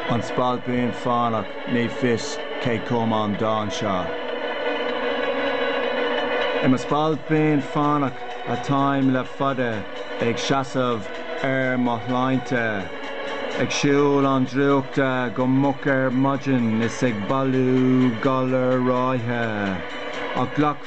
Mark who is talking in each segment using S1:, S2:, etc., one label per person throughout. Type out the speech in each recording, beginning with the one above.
S1: An Spailpín Fánach Ní fios cé chum an dán seo. I mo spailpín fánach atáim le fada Ag seasamh ar mo shláinte Ag siúl an drúchta go moch ar maidin Is ag bailiú galair ráithe Ach glac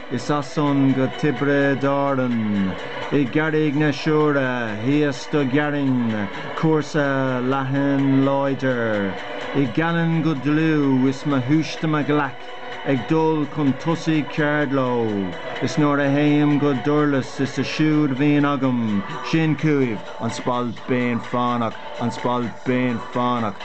S1: Is as san go Tiobraid Árann, i gCarraig na Siúire thíos do ghearrainn cúrsa leathan láidir i gCallainn go dlúth is mo shúiste im ghlaic ag dul chun tosaigh ceard leo is nuair a théim go Durlas is é siúd bhíonn agam sin chúibh An Spailpín Fánach, An Spailpín Fánach.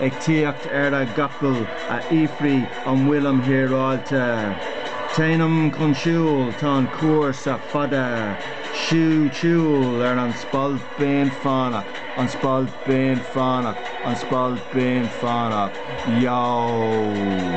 S1: ag tíocht ar a gcapall á fhiafraí an bhfuilim híreáilte. Téanam chun siúil, tá an cúrsa fada. Siúd siúl ar an Spailpín Fánach, an Spailpín Fánach, an Spailpín Fánach. Yow!